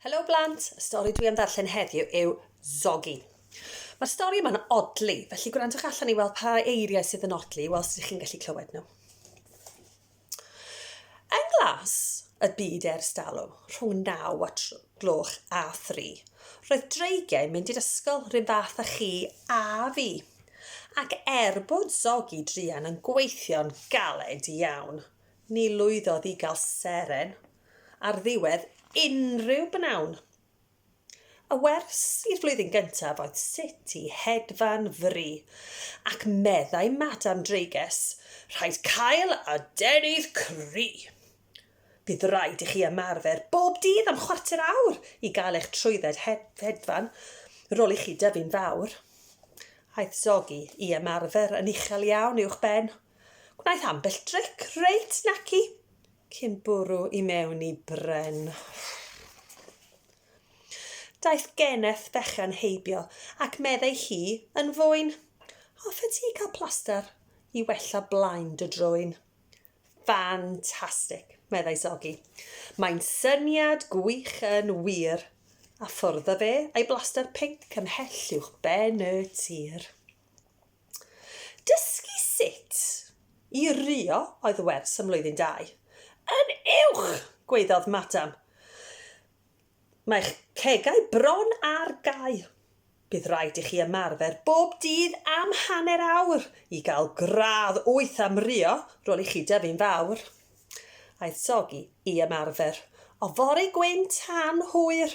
Helo blant, y stori dwi am ddarllen heddiw yw Zoggy. Mae'r stori yma'n odli, felly gwrandwch allan i weld pa eiriau sydd yn odli, wel sydd chi'n gallu clywed nhw. Yn glas y byd ers dalw, rhwng 9 a gloch a 3, roedd dreigiau mynd i'r ysgol rhywun fath â chi a fi. Ac er bod Zoggy Drian yn gweithio'n galed iawn, ni lwyddodd i gael seren ar ddiwedd unrhyw bnawn. Y wers i'r flwyddyn gyntaf oedd sut i hedfan fri, ac meddai Madam Dreiges, rhaid cael adenydd cry. Bydd rhaid i chi ymarfer bob dydd am chwarter awr i gael eich trwydded hedfan, rôl i chi dyfu'n fawr. Aeth Zoggy i ymarfer yn uchel iawn uwch ben. Gwnaeth ambell dric reit naci. Cyn bwrw i mewn i bren. Daeth geneth fechan heibio, ac meddai hi yn fwyn, Hoffe ti cael plaster i wella blaen dy drwyn? Ffantastig, meddai Sogi. Mae'n syniad gwych yn wir. A ffwrdd â fe a'i blaster pinc ymhell uwchben y tir. Dysgu sut i rio oedd y wers ym Mlwyddyn Dau. Yn uwch! gwaeddodd Madam. Mae'ch cegau bron ar gau. Bydd rhaid i chi ymarfer bob dydd am hanner awr i gael gradd wyth am rio, rôl i chi dyfu'n fawr. Aeth Soggy i ymarfer. O fore gwyn tan hwyr!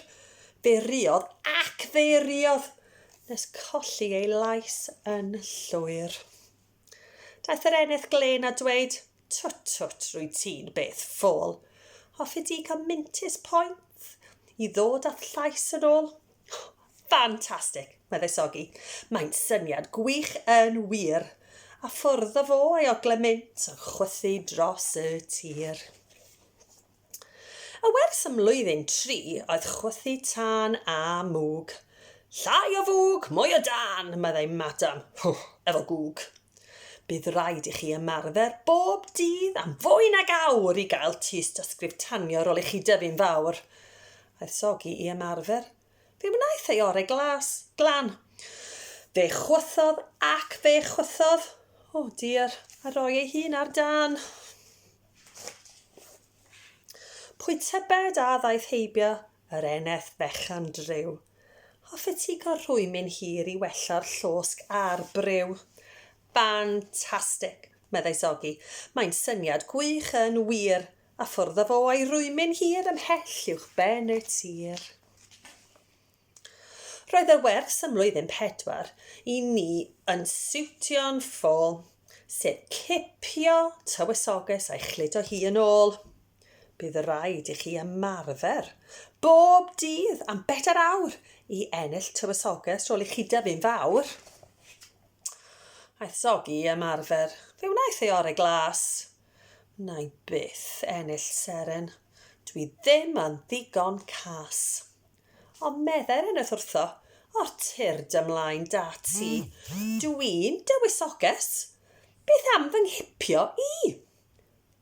Beiriodd ac feiriodd, nes colli ei lais yn llwyr. Daeth yr eneth glên a dweud, Twt, twt, rwy ti'n beth ffôl. Hoffi di cael mintus poeth i ddod â'th llais yn ôl? Ffantastig! meddai Sogi. Mae'n syniad gwych yn wir! A ffwrdd fo a'i ogle mint yn chwythu dros y tir. Y wers ym mlwyddyn tri oedd chwythu tân a mwg. Llai o fwg, mwy o dân, meddai Madam. Hww, efo gwg. Bydd rhaid i chi ymarfer bob dydd am fwy nag awr i gael tystysgrif tanio ar ôl i chi dyfu'n fawr. Aeth Sogi i ymarfer. Fe wnaeth ei orau glas, glan. Fe chwythodd ac fe chwythodd. O dear, a roi ei hun ar dan. Pwy tybed a ddaeth heibio yr eneth fechan driw. Hoffe ti cael rhwymyn hir i wella'r llosg a'r briw? Fantastic! meddai Sogi. Mae'n syniad gwych yn wir! A ffwrdd â fo a'i rwymyn hir ymhell uwch ben y tir. Roedd y wers ym mlwyddyn pedwar i ni yn siwtio'n ffôl, sef cipio tywysoges a'i chludo hi yn ôl. Bydd rhaid i chi ymarfer bob dydd am bedair awr i ennill tywysoges ôl i chi dyfu'n fawr. Aeth Zoggy i ymarfer. Fe wnaeth ei orau glas. Wnai byth ennill seren, dwi ddim yn ddigon cas. Ond meddai'r eneth wrtho, O tyr dy mlaen da ti, dwi'n dywysoges, beth am fy nghipio i?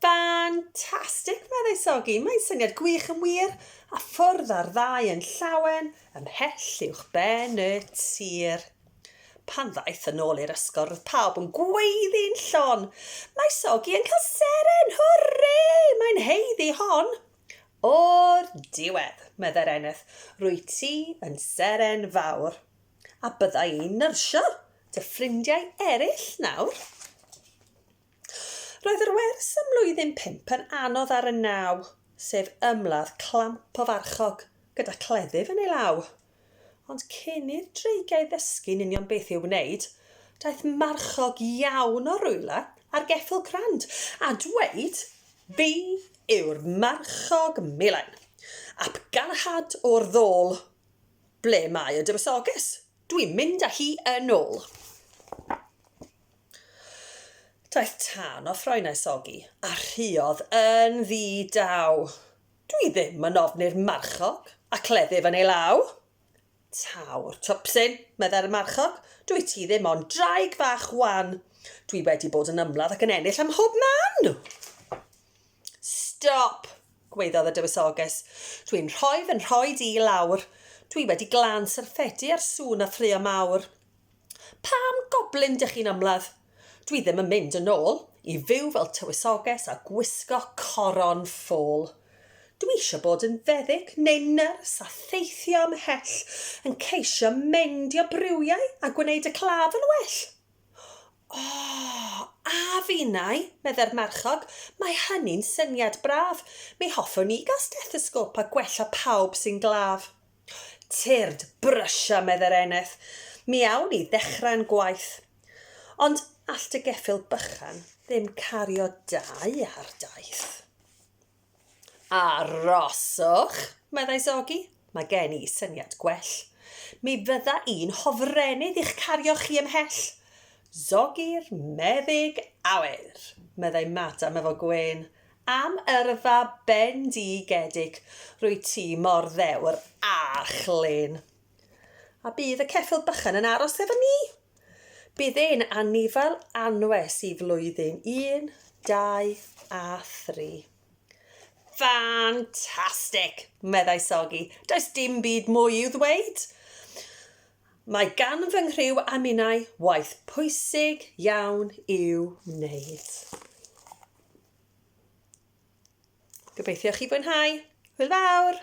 Fantastic! meddai Sogi, mae'n syniad gwych yn wir, a ffwrdd â'r ddau yn llawen ymhell uwchben y tir. Pan ddaeth yn ôl i'r ysgol roedd pawb yn gweiddi'n llon, Mae Sogi yn cael seren! Hwrê! Mae'n haeddu hon! O'r diwedd, meddai'r Eneth, rwyt ti yn seren fawr, a bydda i'n nyrsio dy ffrindiau eraill nawr. Roedd yr wers ym mlwyddyn pump yn anodd ar y naw, sef ymladd clamp o farchog gyda cleddyf yn ei law. Ond cyn i'r dreigiau ddysgu'n union beth i'w wneud, daeth marchog iawn o rywle ar geffyl crand a dweud, Fi yw'r marchog milen, ap galahad o'r ddôl! Ble mae y dywysoges? Dwi'n mynd â hi yn ôl! Daeth tân o ffroenau sogi a rhuodd yn ddi-daw. Dwi ddim yn ofni'r marchog a cleddyf yn ei law. Taw'r twpsyn, meddai'r marchog, dwyt ti ddim ond draig fach wan. Dwi wedi bod yn ymladd ac yn ennill ym mhob man! Stop! gwaeddodd y dywysoges. Dwi'n rhoi fy nhroed i lawr. Dwi wedi glan syrffedi ar sŵn a ffrio mawr. Pam goblin dych chi'n ymladd? Dwi ddim yn mynd yn ôl i fyw fel tywysoges a gwisgo coron ffôl. Dwi eisiau bod yn feddyg neu nyrs a theithio ymhell, yn ceisio meindio briwiau a gwneud y claf yn well. O, a finnau, meddai'r marchog, mae hynny'n syniad braf. Mi hoffwn i gael stethosgôp a gwella pawb sy'n glaf. Tyrd, brysio, meddai'r eneth. Mi awn ni ddechrau'n gwaith. Ond all dy geffyl bychan ddim cario dau ar daith. Aroswch, meddai Zogi. Mae gen i syniad gwell. Mi fydda i'n hofrennydd i'ch cario chi ymhell. Zogi'r meddyg aur, meddai Madam efo gwên. Am yrfa bendigedig, rwyt ti mor ddewr a chlên. A bydd y ceffyl bychan yn aros efo ni? Bydd e'n anifail anwes i flwyddyn un, dau a thri. Ffantastig! meddai Sogi. Does dim byd mwy i'w ddweud. Mae gan fy nghriw a minnau waith pwysig iawn i'w wneud. Gobeithio chi fwynhau. Hwyl fawr!